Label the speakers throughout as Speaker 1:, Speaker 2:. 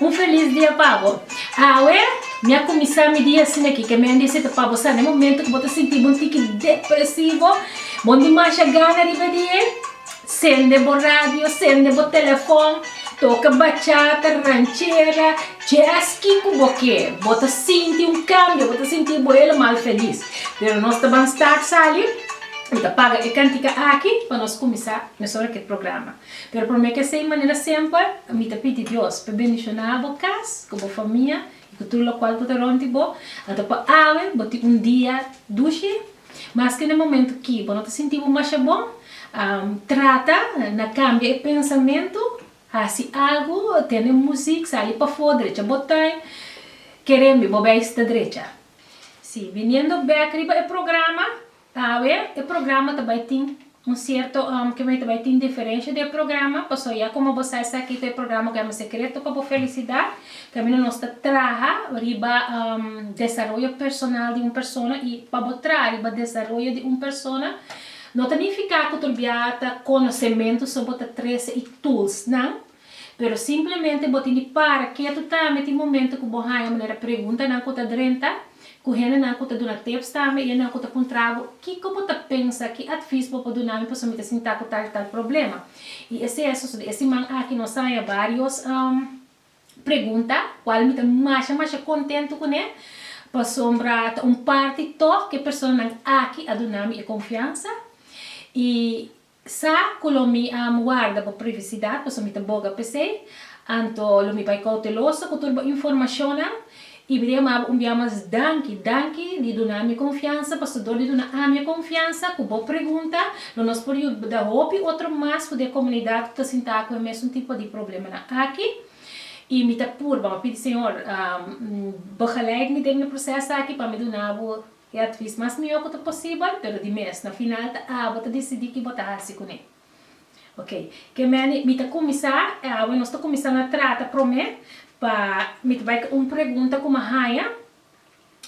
Speaker 1: Un felis dia pa bo. Awe, mi a kuminsá mi dia asin'akí. Ke mi a dise ta pa bo, sa den momentu ku bo ta sinti bo un tiki depresivo, bo dimasha gana riba di e, sende bo radio, sende bo telefòn, toka bachata, ranchera, jazz, kiko bo ke, bo ta sinti un kambio, bo ta sinti bo helemal felis. Pero nos ta ban start sali, mi ta paga e kantika aki pa nos kuminsá mesora ku e programa. Pero pa me k'esei manera semper, mi ta pidi Dios p'e bendishoná bo kas ku bo famia i ku tur lokual ku ta rònt di bo. Anto pa awe bo tin un dia dushi. Maske na e momentu ki bo no ta sinti bo masha bon, trata na kambia e pensamentu, hasi algu, tende músik, sali pafó, drecha bo tuin. Kerembi bo bai sta drecha. Sí, biniendo bèk riba e programa, Tawe e programa ta bai tin un sierto kime'e ta bai tin diferensha den e programa, pasobra ya como bo sa esaki ta e programa cu yama Secreto pa bo felicidad, caminda nos ta traha riba desaroyo personal di un persona y pa bo traha riba desaroyo di un persona no ta nifica cu torbia ta conocemento so bo ta trece y toolsnan Pero simplemente bo tin di para ketu tambe tin momento ku bo haña manera preguntanan ku ta drenta, ku hendenan ku ta duna tips tambe i hendenan ku ta puntra bo, Kiko bo ta pensa? Ki atvis bo por duna mi pasobra mi ta sinta ku tal i tal problema? I esei a sosodé. E siman aki nos a haña vários pregunta kual mi ta masha masha kontentu kuné pasobra ta un parti tòg ku e personanan aki a duna mi e konfiansa i Sa ku lo mi a warda bo privisidat paso mi ta boga p'esei, anto lo mi bai kouteloso ku tur bo informashonnan, i mi ta yama bo un bia mas danki, danki di duna mi konfiansa, paso dor di duna ami e konfiansa ku bo pregunta lo nos por yuda hopi otro mas fu di e komunidat ku ta sintá ku e mesun tipo di problemanan aki, i mi ta purba, mi ta pidi Señor, bo gelijk mi den e proses aki pa mi duna bo E advis mas mihó ku ta posibel, pero di mes na final ta abo ta disidí ki bo ta hasi kuné. Ok, ke meni mi ta kuminsá, e awe nos ta kuminsá na trata promé, pa mi ta bai ku un pregunta ku mi a haña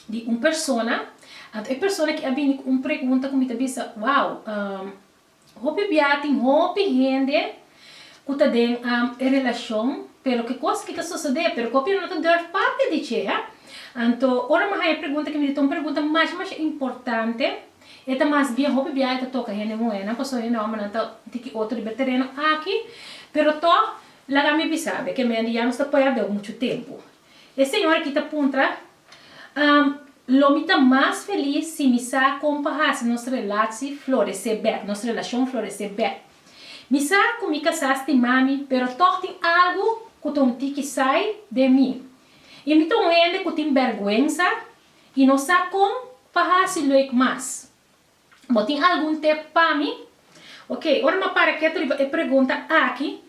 Speaker 1: di un persona. Anto e persona ki a bini ku un pregunta ku mi ta bisa, wow, Hopi bia tin hopi hende cu ta den e relacion pero ki cos ki ta sosode pero cu apia no ta durf papia di dje. Anto ora mi haya pregunta ki mi di ta un pregunta masha masha importante e ta mas bien hopi bia e ta toca hende muhernan pasobra hende hombernan ta tin ki otro liber tereno aki pero toch laga mi bisa be ke mende ya nos ta perde mucho tempo. E señora aki ta puntra, Am, lo mi ta mas felis si mi sa kon pa hasi nos relatsi floresé bèk, nos relashon floresé bèk. Mi sa ku mi kasá stima mi, pero tòg tin algu ku ta un tiki sai den mi. I mi ta un hende ku tin bèrgwensa i no sa kon pa hasi lueg mas. Bo tin algun tep pa mi? Ok, ora mi a para keda riba e pregunta aki,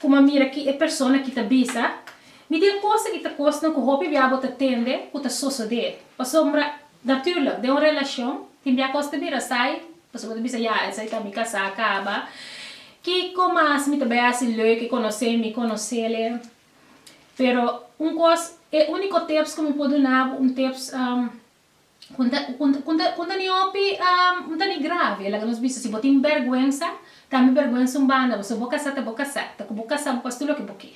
Speaker 1: ku mi a mira ki e persona ki ta bisa, mi di e kosa ki ta kosnan ku hopi bia bo ta tende ku ta sosodé. Pasobra, natùrlik, den un relashon, tin bia kos ta bira sai, pasobra bo ta bisa, ya, esei ta mi kasá kaba. Kiko mas mi ta bai hasi leuke konosé mi konosele? Pero un kos, e úniko tips ku mi por duna bo, un tips, Con ta con ta con ta ni hopi um ta ni grave e laga nos bisa si bo tin berguensa cambia berguensa un banda bo so bo casa ta bo casa ta cu bo casa bo pasi loke bo ke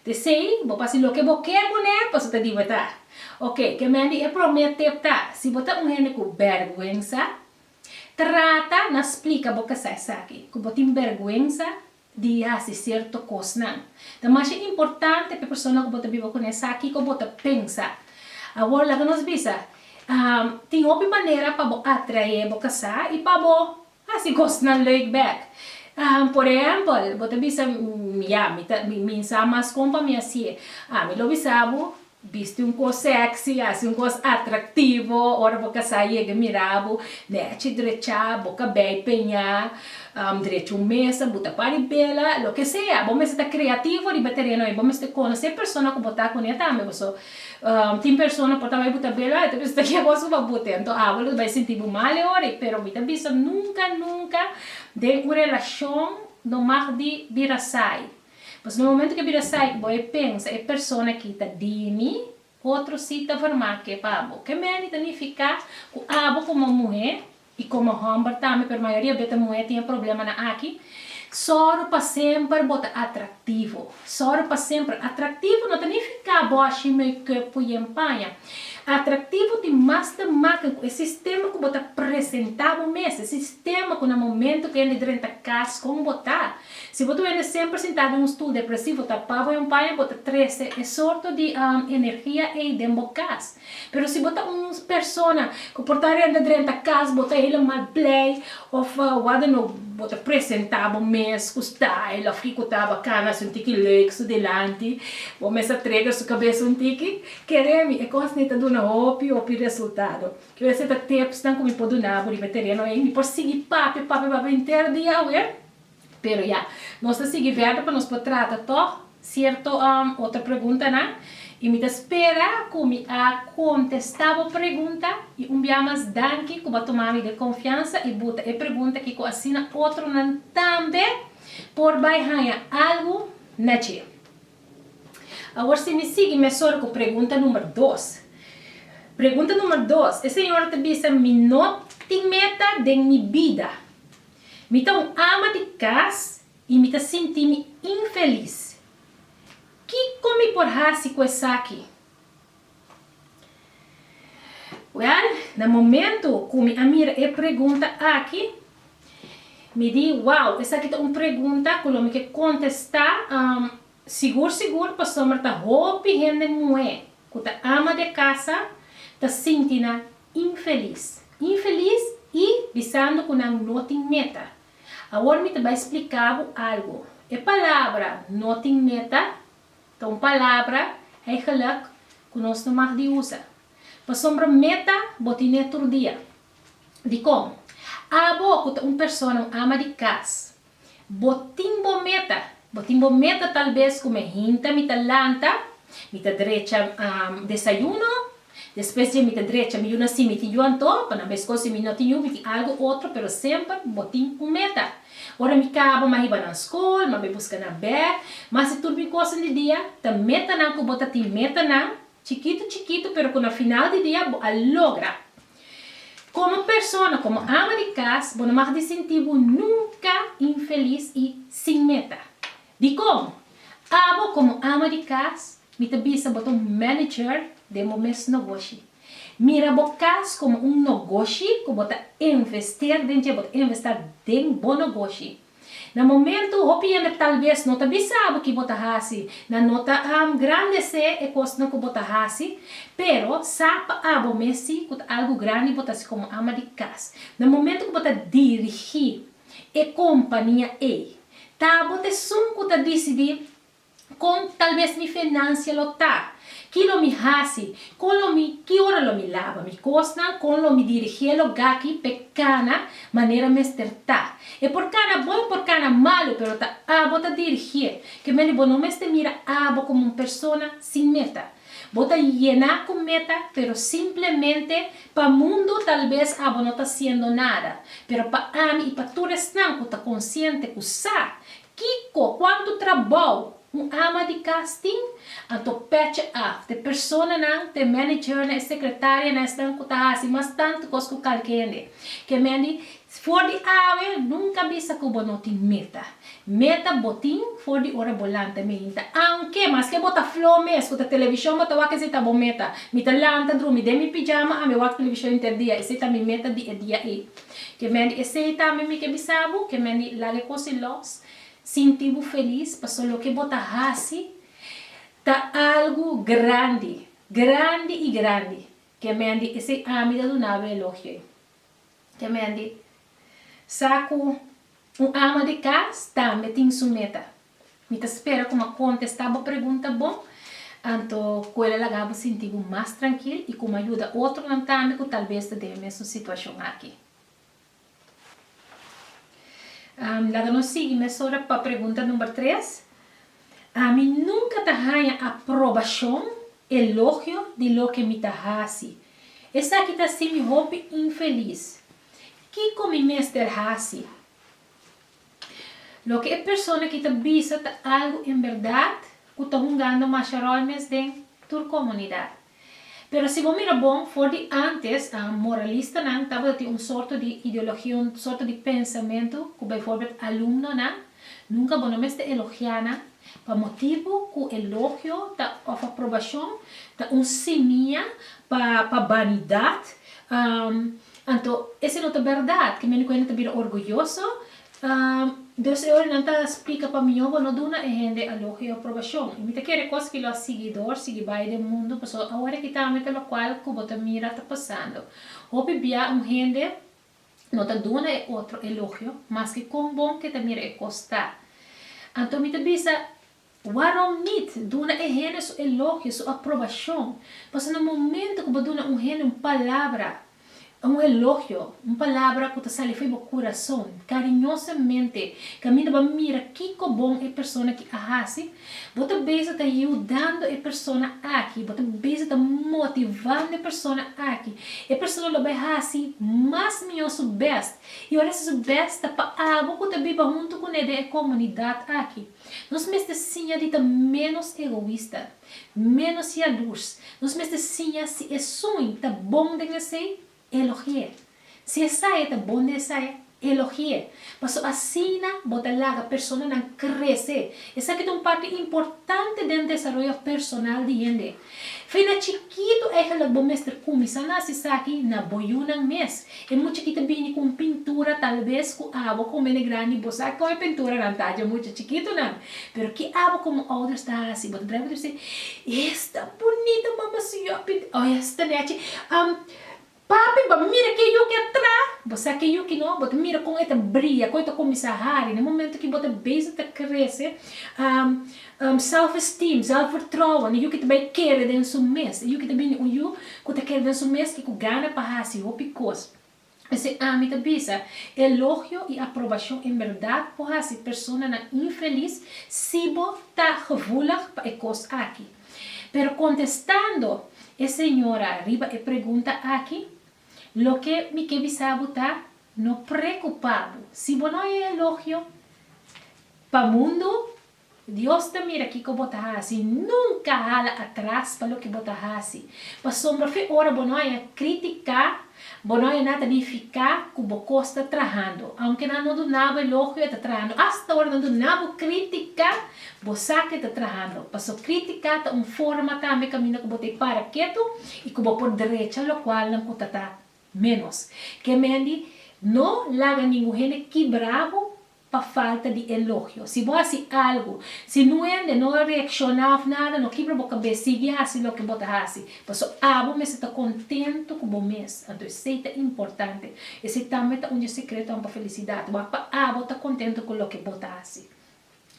Speaker 1: te sei bo pasi loke bo ke cu ne paso ta di bo ta ok kemendi e prome tip ta si bo ta un hende cu berguensa trata na splica bo casa esaki cu bo tin berguensa di hasi sierto kosnan. Ta masha importante pa e persona ku bo ta biba kuné sa kiko bo ta pensa. Awor laga nos bisa, tin hopi manera pa bo atraé bo kasá i pa bo hasi kosnan lèuk bèk. Por ehèmpel, bo ta bisa, Ya, mi ta mi mi sa mas kon pa mi hasié. Mi lo bisa bo, Bisti un cos sexy, haci un cos atractivo, ora bo casá yega e mirabu, nechi drechá, bo cabei peñá, drecha un mesa, bo ta pari bela, loke sea, bo mester ta creativo riba e tereno ey, bo mester conoce e persona cu bo ta cu ne tambe, paso tin persona por ta bay bo ta bela, ey, ta mester ta kier cos cu pa bote, enton abo lo ta bay sinti bo mal e ora ey, pero mi ta bisa nunca, nunca den un relacion no mag di bira saai. Pasobra e momento ke bira saik bo e pensa e persona aki ta di mi, otro si ta vormá ke pa bo. Ke meni ta nifiká ku abo komo muhé i komo hòmber tambe, pero mayoria bes ta muhé tin e problemanan aki, sòru pa semper bo ta atraktivo. Sòru pa semper atraktivo no ta nifiká bo a shimi e kuerpu yen paña. Atraktivo tin mas ta makna ku e sistema ku bo ta presentá bo mes, e sistema ku na momento ku hende drenta kas kon bo ta. Si bo ta wende semper sintá den un stul depresivo ta pa bo yon paña bo ta treste e sorto di energia ei den bo kas. Pero si bo ta un persona ku por ta renta drenta kas bo ta helemal blij òf wada no bo ta presentá bo mes ku style òf kiko ta bakan hasi un tiki leuk su dilanti bo mes ta treker su kabes un tiki keremi e kos nei ta duna hopi hopi resultado ke wese ta tipsnan ku mi por duna bo riba e tereno ei mi por sigui papia papia papia henter dia awe Pero ya, nos ta sigui verder pa nos por trata tog cierto otro preguntanan y mi ta spera cu mi a contesta bo pregunta y un bia mas danki cu bo a toma mi den confiansa y buta e pregunta aki cu asina otronan tambe por bay haya algo na dje. Awor si mi sigui mesora cu pregunta number dos. Pregunta number dos, e señora ta bisa mi no tin meta den mi bida Mi ta un ama di kas i mi ta sinti mi infelis. Kiko mi por hasi ku esaki? Wèl, na momentu ku mi a mira e pregunta aki, mi di, Wow, esaki ta un pregunta ku lo mi ke kontestá. Sigur sigur pasobra ta hopi hende muhé ku ta ama di e kasa ta sinti nan infelis. Infelis i bisando ku nan no tin meta. Awor mi ta bai spliká bo algu. E palabra no tin meta ta un palabra, eigelik, ku nos no mag di usa. Pasobra meta bo ten'é tur dia. Dikon? Abo ku ta un persona un ama di kas, Bo tin bo meta. Bo tin bo meta tal bes ku mi hinta mi ta lanta, mi ta drecha desayuno, despues dje mi ta drecha mi yu na simitiyu anto, pa nan bes kon si mi no tin yu mi tin algu otro, pero semper bo tin un meta. Ora mi kaba mi a hiba nan skol, mi a bai buska nan bèg, mi a hasi tur mi kosnan di dia, ta metanan ku bo ta tin metanan, chikitu chikitu pero ku na final di dia bo a logra. Komo persona, komo ama di kas, bo no mag di sinti bo nunka infelis i sin meta. Dikon? Abo komo ama di kas, mi ta bisa bo ta un manager den bo mes nogoshi. Mira bo kas komo un nogoshi ku bo ta invester den dje, bo ta investá den bo nogoshi. Na momentu, hopi hende talves no ta bisa bo ki bo ta hasi, nan no ta grandesé e kosnan ku bo ta hasi, pero sa pa abo mes si ku ta algu grandi bo ta hasi komo ama di kas. Na momentu ku bo ta dirigí e kompania ei, ta bo t'esun ku ta disidí Kon talbes mi fenansia lo ta? Ki lo mi hasi? Kon lo mi ki ora lo mi laba mi kosnan? Kon lo mi dirigé lo gaki p'e kana manera mester ta? E por kana bon e por kana malu, pero ta abo ta dirigé. Kemende bo no mester mira abo komo un persona sin meta. Bo ta yená ku meta, pero simplemente pa mundu talbes abo no ta hasiendo nada, pero pa ami i pa tur esnan ku ta konsiente ku sa Kiko, kuantu trabou un ama di kas tin? Anto pecha af t'e personanan, t'e managernan, e sekretarianan, esnan ku ta hasi mas tantu kos ku kalki hende. Ke men di, For di awe, nunka bisa ku bo no tin meta. Meta bo tin for di ora bo lanta mainta. Aunke, maske bo ta fló mes, ku ta televishon bo ta wak esei ta bo meta. Mi ta lanta drumi den mi pijama, a mi wak televishon interdia, esei ta mi meta di e dia ei. Ke mendi esei tambe mi ke bisa bo, ke mendi laga e kosi los. Sinti bo felis, pasobra loke bo ta hasi ta algu grandi, grandi i grandi. Ke mendi esei ami ta duna bo e elogio ei. Ke mendi sa ku un ama di kas tambe tin su meta. Mi ta spera ku mi a kontestá bo pregunta bon, anto ku el a laga bo sinti bo mas trankil i ku mi a yuda otronan tambe ku talves ta den e mesun situashon aki. Laga nos sigui mesora pa pregunta number tres. Mi nunka ta haña aprobashon, elogio, di loke mi ta hasi. Esaki ta hasi mi hopi infelis. Kiko mi mester hasi? Loke e persona ki ta bisa ta algu en berdad ku ta hungando masha ròl mes den tur komunidat. Pero si bo mira bon, for di ántes moralistanan tabata tin un sorto di ideologia, un sorto di pensamentu ku beivoorbeeld alumnonan nunka bo no mester elogiá nan pa motibu ku elogio ta òf aprobashon ta un simia pa banidat. Anto, ese no ta berdad, ke mi no kuenta ta bira orguyoso? Dos e orinan ta splika pa mi, Bo no duna e hende alogio i aprobashon, i mi ta kere kos ki lo a sigui dor, sigui bai den mundu, pasobra awor aki tambe ta lokual ku bo ta mira ta pasando. Hopi bia un hende no ta duna e otro elogio, maske kon bon ke ta mira e kos ta. Anto mi ta bisa, Waarom niet? Duna e hende su elogio, su aprobashon. Pasobra na momentu ku bo duna un hende un palabra, un elogio, un palabra ku ta sali fo'i bo kurason, kariñosamente, kaminda bo a mira kiko bon e persona ki a hasi, bo ta bisa ta yudando e persona aki, bo ta bisa ta motivando e persona aki. E persona lo bai hasi mas mihó su bèst, i ora esei su bèst ta pa abo ku ta biba huntu kuné den e komunidat aki. Nos mester siña di ta ménos egoista, ménos yalurs. Nos mester siña si esun ta bon den esei, elogi'é. Si esaya ta bon den esaya, elogi'é. Paso asina bo ta laga personanan krese. Esaki ta un parti importante den desaroyo personal di hende. Fin na chikitu eigenlijk bo mester kuminsá na hasi esaki na bo yunan mes. E muchachito a bini ku un pintura talves ku abo ku mene grandi bo sa kon e pinturanan ta dje mucha chikitunan. Pero ke abo komo ouders ta hasi bo ta draiba tur si, Esta bunita mama si yo a pinta o esta nechi a Papi, bo a mira ke yuki atra. Bo sa ke yuki no? Bo ta mira kon e ta bria, kon e ta kuminsá hari na momento ki bo ta beza ta krese. Um, um, self-esteem, zelfvertrouwen, e yuki ta bai kere den su mes. E yuki ta bini un yu ku ta kere den su mes i ku gana pa hasi hopi kos. P'esei ami ta bisa, elogio i aprobashon en bèrdat por hasi personanan infelis si bo ta gevoelig pa e kos aki. Pero kontestando e señora riba e pregunta aki, loke mi ke bisa bo ta, no preokupá bo. Si bo no e elogio pa mundu, Dios ta mira kiko bo ta hasi. Nunka hala atras pa loke bo ta hasi, pasobra fe ora bo no haya kritika Bo no ená ta bin fiká ku bo kosta trahando. Ounke nan no duná bo elogio e ta trahando. Asta ora nan duná bo krítika bo sa ku e ta trahando. Pasó krítika ta un forma tambe kaminda ku bo ta e para ketu i ku bo por drecha lokualnan ku ta ta ménos. Ke mendi no laga ningun hende kibrá bo pa falta di elogio. Si bo hasi algu, si nuhende no a reakshoná òf nada, no kibra bo kabes, sigui hasi loke bo ta hasi, paso abo mester ta kontentu ku bo mes. Anto esei ta importante. Esei tambe ta un dje sekretonan pa felisidat. Wak pa abo ta kontentu ku loke bo ta hasi.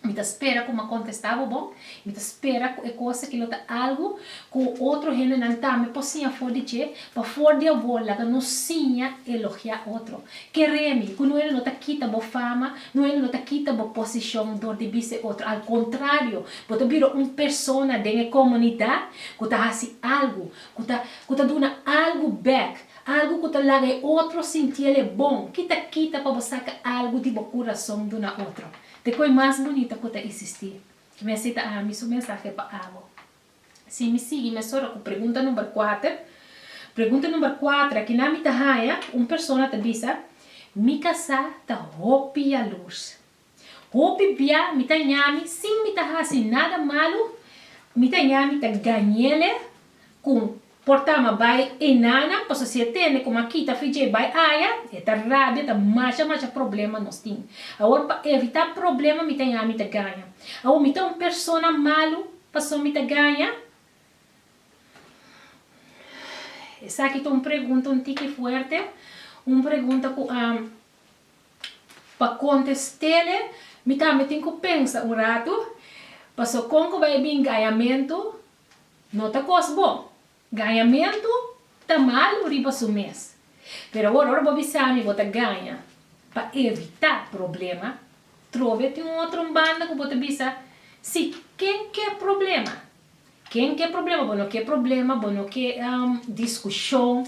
Speaker 1: Mi ta spera ku mi a kontestá bo bon, i mi ta spera ku e kos aki lo ta algu ku otro hendenan tambe por siña for di dje. Pafor di awor, laga nos siña elogiá otro. Keremi ku nuel no ta kita bo fama, nuel no ta kita bo posishon dor di bisa e otro. Al kontrario, bo ta bira un persona den e komunidat ku ta hasi algu ku ta ku ta duna algu bèk, algu ku ta laga e otro sinti el e bon. Ki ta kita pa bo saka algu di bo kurason duna otro? Te koi mas bunita ku ta izisti. Mester ta ami su mensahe pa abo. Si mi sigui mesora ku pregunta number kuater, pregunta number kuater a kina mi ta haña, un persona ta bisa, Mi kasá ta hopi yalurs. Hopi bia mi ta ñami sin mi ta hasi nada malu, mi ta ñami ta gañ'ele ku Por ta ama bai e nana, paso si e tende como a kita fi dje bai aya, e ta rabia, ta masha masha problema nos tin. Awor pa evita problema mi ta yaha mi ta gaña. Awor mi ta un persona malu paso mi ta gaña? Esaki ta un pregunta un tiki fuerte, un pregunta cu a pa contestele mi tambe tin cu pensa un rato, paso con cu bai bin gañamento No ta kos bon. Gañamentu ta malu riba su mes. Pero awor ora bo bisa mi bo ta gaña pa evitá problema, trobe tin un otro un banda ku bo ta bisa, Si, ken ke problema? Ken ke problema? Bo no ke problema, bo no ke diskushon.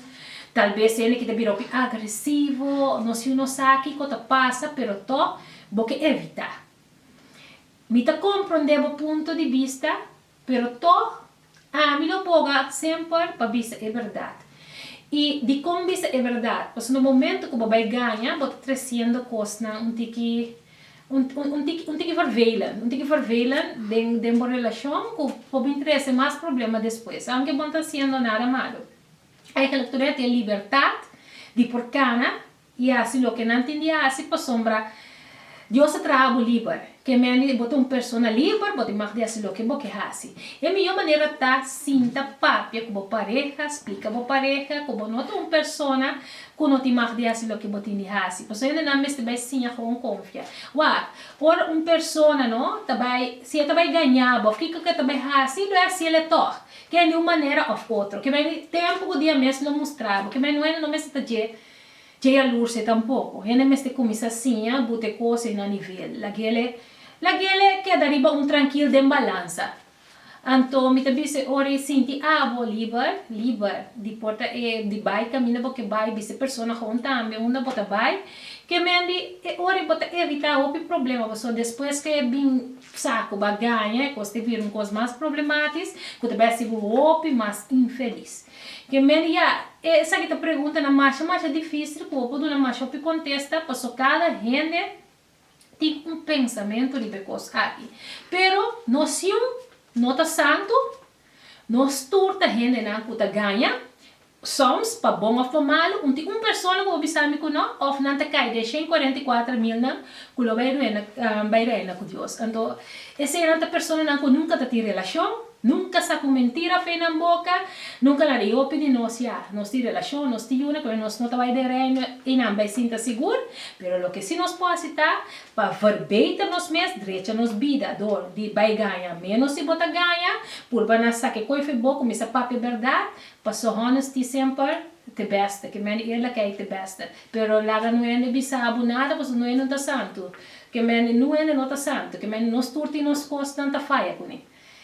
Speaker 1: Tal bes hende ke ta bira hopi agresivo, no si no sa kiko ta pasa, pero tò bo ke evitá. Mi ta komprondé bo punto di bista, Pero tog, ami lo boga semper pa bisa e berdad. I dikon bisa e berdad? Pasobra na momento ku bo bai gaña, bo ta tresiendo kosnan un tiki un un tiki un tiki vervelend, un tiki vervelend den den bo relashon ku por bin trese mas problema despues, aunke bo no ta hasiendo nada malu. Eigenlijk tur e hati e libertat di por kana. I hasi loke nan tin di hasi pasobra Dios ta traha bo liber. Ke mende bo ta un persona liber, bo tin mag di hasi loke bo ke hasi. E mihó manera ta sinta papia ku bo pareha, splika bo pareha ku bo no ta un persona ku no tin mag di hasi loke bo tin di hasi. Pasobra hende nan mester bai siña kon konfia. Wak, ora un persona no ta bai, si e ta bai gañá bo òf kiko ku e ta bai hasi, lo e hasi el e tòg. Ke hende un manera òf otro. Ke mende tempu ku dia mes lo mustra bo. Ke mende un hende no mester ta dje Dje yalurse tampoco. Hende mester cuminsa siña bo t'e cose na nivel. Laguele, laguele keda riba un trankil den balansa. Anto mi ta bis'e ori sinti abo liber, liber, di por ta e di bai caminda bo ke bai, bis'e persona gewoon tambe unda bo ta bai. Kemendi e ori bo ta evita hopi problema paso despues ke bin sa cu bo a gaña e cos ta bira un cos mas problematis cu ta besti bo hopi mas infeliz. Gen mende ya esaki ta preguntanan masha masha difisil ku bo por duna masha hopi kontesta, paso kada hende tin un pensamentu riba e kos aki. Pero nos yiun no ta santu, nos tur ta hendenan ku ta gaña, soms pa bon òf pa malu, un tin un persona ku bo bisa mi ku no, òf nan ta kai den shen kuarenta i kuater milnan ku lo bai reina bai reina ku Dios. Anto esenan ta personanan ku nunka ta tin relashon. Nunca sa cu mentira fe nan boca, nunca laga hopi di nos ya nos tin relacion, nos tin yuna pero nos no ta bay den Reino y nan bay sinta sigur, pero loke si nos por haci ta pa verbeter nos mes, drecha nos bida door di bay gaña menos si bo ta gaña, purba na sa ke koe fe bo cu mi sa papia berdad, paso honesty semper te beste, ke mende eerlijkheid te beste, pero laga no hende bisa bo nada paso noe no ta santu, ke mende nu hende no ta santu, ke mende nos tur tin nos cosnan ta faya cune.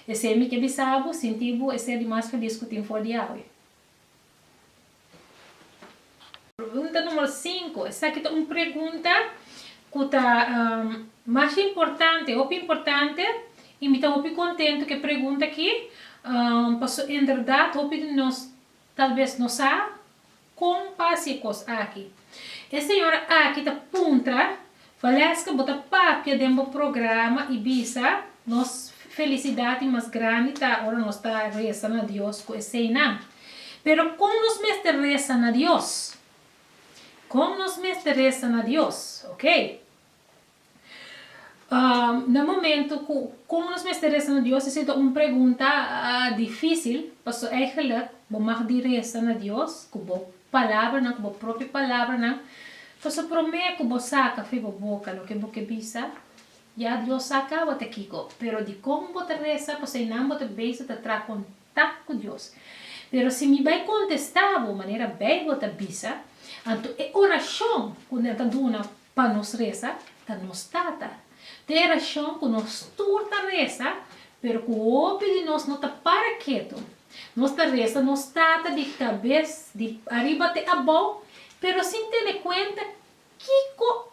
Speaker 1: Esei mi ke bisa bo, sinti bo e ser di mas felis ku tin for di awe. Pregunta numero sinku. Esaki ta un pregunta ku ta mas importante, hopi importante, i mi ta hopi kontentu ku e pregunta aki, pasobra en berdat hopi di nos tal bes no sa. Kon pa hasi e kos aki? E señora aki ta puntra, Valesca bo ta papia den bo programa y bisa nos felicidad y mas grandi ta ora nos ta resa na Dios cu eseinan. Pero con nos mester resa na Dios? Con nos mester resa na Dios? Ok. Na momento cu con nos mester reza na Dios esey ta un pregunta dificil, pasobra eigenlijk bo mag di reza na Dios cu bo palabranan, cu bo propio palabranan, pasobra prome cu bo saca fo'i bo boca loke bo ke bisa, ya Dios sa caba ta kico, pero dicon bo ta reza, pasobra einan bo ta bezig ta traha con ta ku Dios. Pero si mi bai kontestá bo manera Beibel ta bisa, anto e orashon ku nan ta duna pa nos resa ta nos Tata. Ta e rashon ku nos tur ta resa, pero ku hopi di nos no ta para ketu. Nos ta resa nos Tata di kabes di ariba te abou, pero sin tene kuenta kiko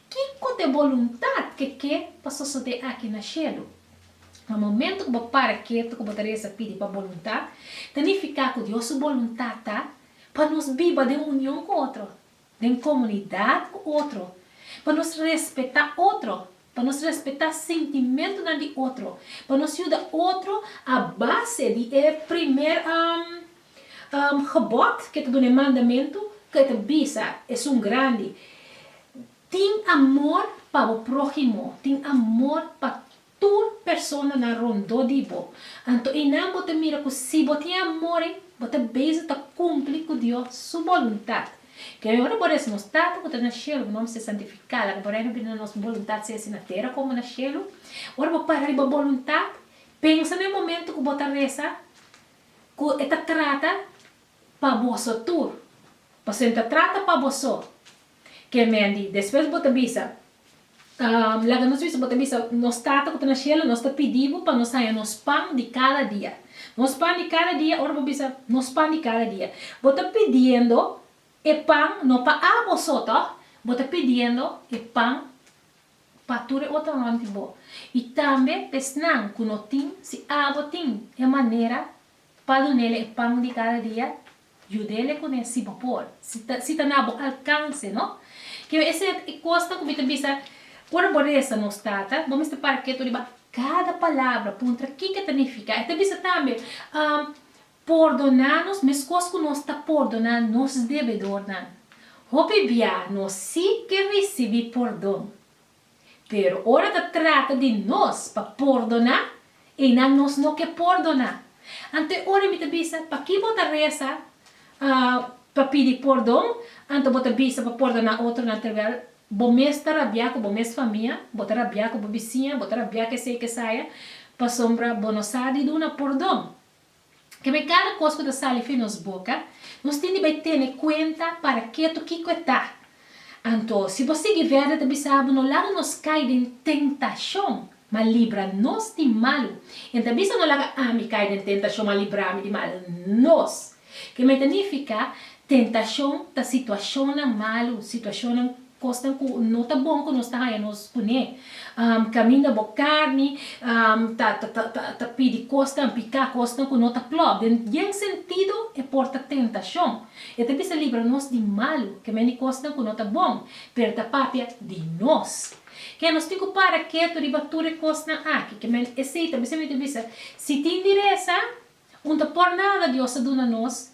Speaker 1: Kiko ta e boluntat ke ke pa sosodé aki na shelu? Na momentu ku bo para ketu ku bo ta resa pidi pa boluntat, ta nifiká ku Dios su boluntat ta pa nos biba den union ku otro, den komunidat ku otro, pa nos respetá otro, pa nos respetá sintimentunan di otro, pa nos yuda otro a base di e primer Gebod, ke ta duna e mandamentu ku e ta bisa esun grandi, Tin amor pa bo próhimo, tin amor pa tur personanan rondó di bo. Anto einan bo ta mira ku si bo tin amor ei, bo ta beiso ta kumpli ku Dios su boluntat. Ke bo ora bo resa, Nos Tata ku ta na shelu, bo nòm a ser santifikado, ke bo renu bini, la nos boluntat sea esei na tera komo na shelu. Ora bo para riba boluntat, pensa na e momentu ku bo ta resa. ku e ta trata pa boso tur. Pasobra e ta trata pa boso. Ke men di, despues bo ta bisa, laga nos bisa, bo ta bisa, Nos Tata ku ta na shelu, nos ta pidi bo pa nos haña nos pan di kada dia. Nos pan di kada dia, ora bo bisa, Nos pan di kada dia, bo ta pidiendo e pan no pa a boso, tò? Bo ta pidiendo e pan. pa tur e otro rond di bo, i tambe pa esnan ku no tin, si abo tin e manera pa dun'el'e e pan di kada dia, yud'el'e kuné si bo por, si ta si ta na bo alkanse, no? Keu esei ta e kosnan ku mi ta bisa, ora bo resa nos Tata, bo mester para ketu riba kada palabra, puntra kiko ta nifiká. E ta bisa tambe, Pordoná nos meskos ku nos ta pordoná nos debedornan. Hopi bia nos sí ke risibí pordon. Pero ora ta trata di nos pa pordoná, einan nos no ke pordoná. Anto e ora mi ta bisa, Pakí bo ta resa pa pidi pordon? Anto bo ta bisa pa pordoná otronan terwèl bo mes ta rabiá ku bo mes famia, bo ta rabiá ku bo bisiña, bo ta rabiá kesei kesaya, pasobra bo no sa di duna pordon? Keme kada kos ku ta sali fen nos boka, nos tin di bai tene kuenta parak'é to kiko e ta. Anto, si bo sigui vèrdè ta bisa bo, no laga nos kai den tentashon, ma libra nos di malu. E no ta bisa no laga ami kai den tentashon, ma librami di malu. Nos. Keme ta nifiká? Tentashon ta situashonnan malu, situashonnan Kosnan ku no ta bon ku nos ta haña nos kuné. Kaminda bo karni ta ta pidi kosnan, piká kosnan ku no ta klò. Den yen sentido e por ta tentashon. E ta bisa libra nos di malu, kemén di kosnan ku no ta bon, pero ta papia di nos. Ke nos tin ku para ketu riba tur e kosnan aki? Kemén esei ta bisa mi ta bisa, si tin diresa, un ta por nada Dios ta duna nos.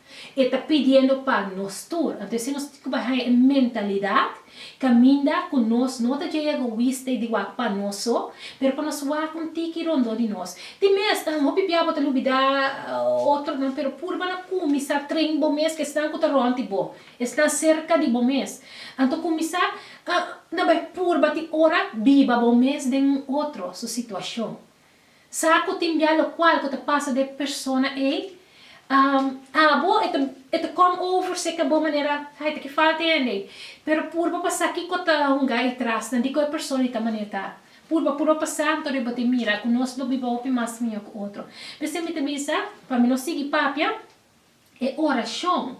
Speaker 1: E ta pidiendo pa nos tur. Anto esei nos tin ku bai haña e mentalidat kaminda ku nos no ta djei egoista i di wak pa nos so, pero pa nos wak un tiki rondó di nos. Tin mes, hopi bia bo ta lubidá otronan, pero purba na kuminsá train bo mes ku esnan ku ta rònt di bo, esnan serka di bo mes. Anto kuminsá na bai purba tin ora biba bo mes den un otro su situashon. Sa ku tin bia lokual ku ta pasa den persona ei? Abo e ta e ta kom over seka bo manera ai ta ki falta e hende ei. Pero purba pa sa kiko ta hunga ei trasna, dikon e persona ei ta manera ta. Purba purba pa sa anto riba di mira ku nos lo biba hopi mas mihó ku otro. P'esei mi ta bisa pa mi no sigui papia e orashon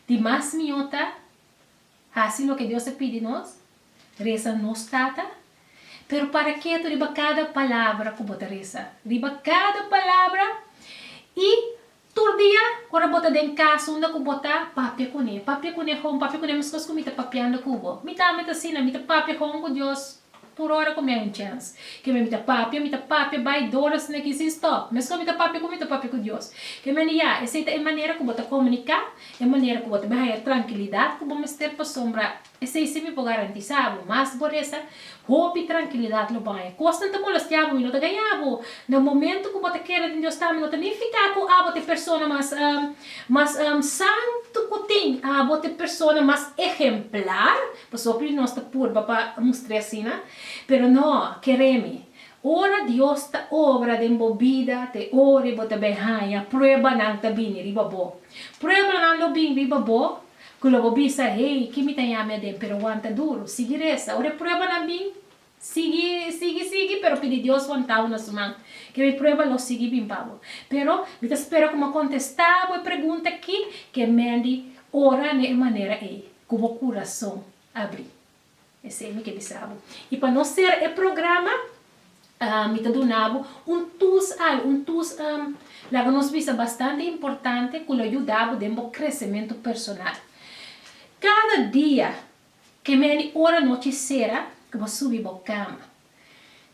Speaker 1: di mas mihó ta. Hasi loke Dios ta pidi nos, resa nos Tata. Pero para ketu riba kada palabra ku bo ta resa, riba kada palabra, i tur dia ora bo ta den kas unda ku bo ta papia kuné, papia kuné hon, papia kuné meskos ku mi ta papiando ku bo. Mi tambe ta asina, mi ta papia hon ku Dios. Tur ora ku mi a un chèns, keme mi ta papia, mi ta papia bai dólas na ki sin stòp. Meskos mi ta papia ku mi ta papia ku Dios. Keme a liá, esei ta e manera ku bo ta komuniká, e manera ku bo ta bin haña trankilidat ku bo mester pasobra esei si mi por garantisá bo mas bo resa, hopi trankilidat lo bo haña. Kosnan ta molestiá bo i lo ta gañá bo. Na momentu ku bo ta keda den Dios tambe no ta nifiká ku abo ta e persona mas mas santu ku tin. Abo ta e persona mas ehemplar. Pasobra nos ta purba pa mustr'é asina, pero no, ker'é mi. Ora Dios ta obra den bo bida ta e ora i bo ta bin haña pruebanan ta bini riba bo. Pruebanan lo bin riba bo ku lo bo bisa, Hey, ke mi ta yaña mi aden? Pero wanta duru, sigui resa. Ora e pruebanan bin, Sigui, sigui, sigui, pero pidi Dios wantabo na su man. Ke mi prueba lo sigui bin pa bo. Pero, mi ta spera ku m'a kontestá bo e pregunta akí, ke Mandy ora na e manera ei, ku bo kurason abrí. Esei mi ke bisa bo. I pa nos sera e programa, mi ta duna bo un tus al, un tus, laga nos bisa, bastante importante ku lo yuda bo den bo kresementu personal. Kada dia Ke mera di ora nochi sera ku bo subi bo kama.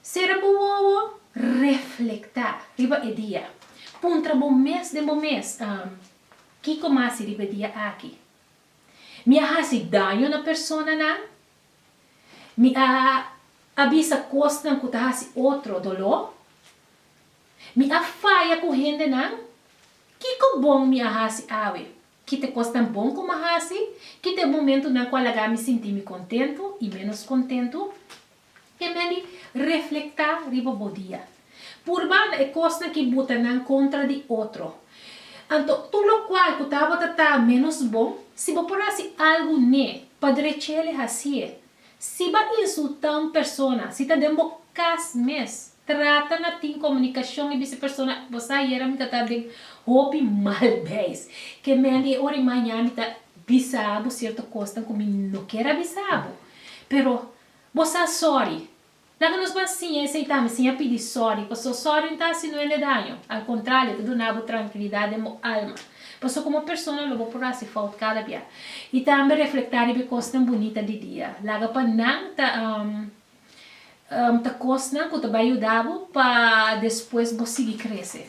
Speaker 1: Sera bo wowo, reflektá riba e dia. Puntra bo mes den bo mes, Am, kiko mi a hasi riba e dia aki? Mi a hasi daño na personanan? Mi a a bisa kosnan ku ta hasi otro doló? Mi a faya ku hendenan? Kiko bon mi a hasi awe? Kite kosnan bon ku mi hasi? Kite e momentunan ku a laga mi sinti mi kontentu i ménos kontentu? E men di, Reflektá riba bo dia. Purba na e kosnan ki bo ta nan kontra di otro. Anto, tur lokual ku tabata ta ménos bon, si bo por hasi algu n'e, pa drech'é el e hasié. Si bo a insultá un persona, si ta den bo kas mes, Trata na tin comunicacion y bisti persona, bo sa ayera mi ta ta den hopi mal beis, ke mendi e ora y maña mi ta bisa bo cierto cosnan cu mi no kier a bisa bo, pero bo sa sorry. Laga nos ban siña esey tambe, siña pidi sorry, paso sorry n'ta haci nuende daño, al contralio ta duna bo trankilidad den bo alma, paso como persona lo bo por haci fout cada bia, y tambe reflecta riba e cosnan bunita di dia, laga pa nan ta ta kosnan ku ta bai yuda bo pa despues bo sigui krese.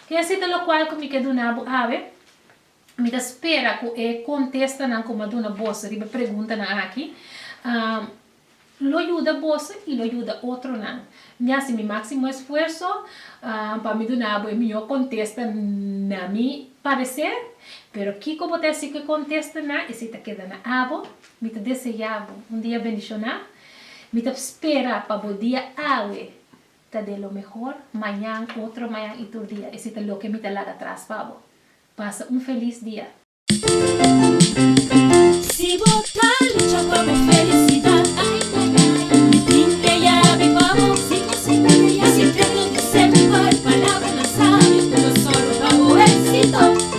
Speaker 1: Te así ta lokual ku mi ke duna bo awe. Mi ta spera ku e kontestanan ku mi a duna boso riba e preguntanan aki lo yuda boso i lo yuda otronan. Mi a hasi mi máksimo esfuerso pa mi duna bo e mihó kontesta na mi pareser, pero kiko bo ta hasi ku e kontestanan esei ta keda na abo. Mi ta deseá bo un dia bendishoná. Mi ta spera pa bo dia awe ta den lo mehor, mañan, otro mañan i tur dia. Esei ta loke mi ta laga tras pa bo. Pasa un felis dia. Si bo ta lucha pa bo felisidad, ay, ay, ay, mi tin e yabi pa bo. Si bo sinti bo ya si tengo di semper, palabra nan sabio, todo solo pa bo éxito.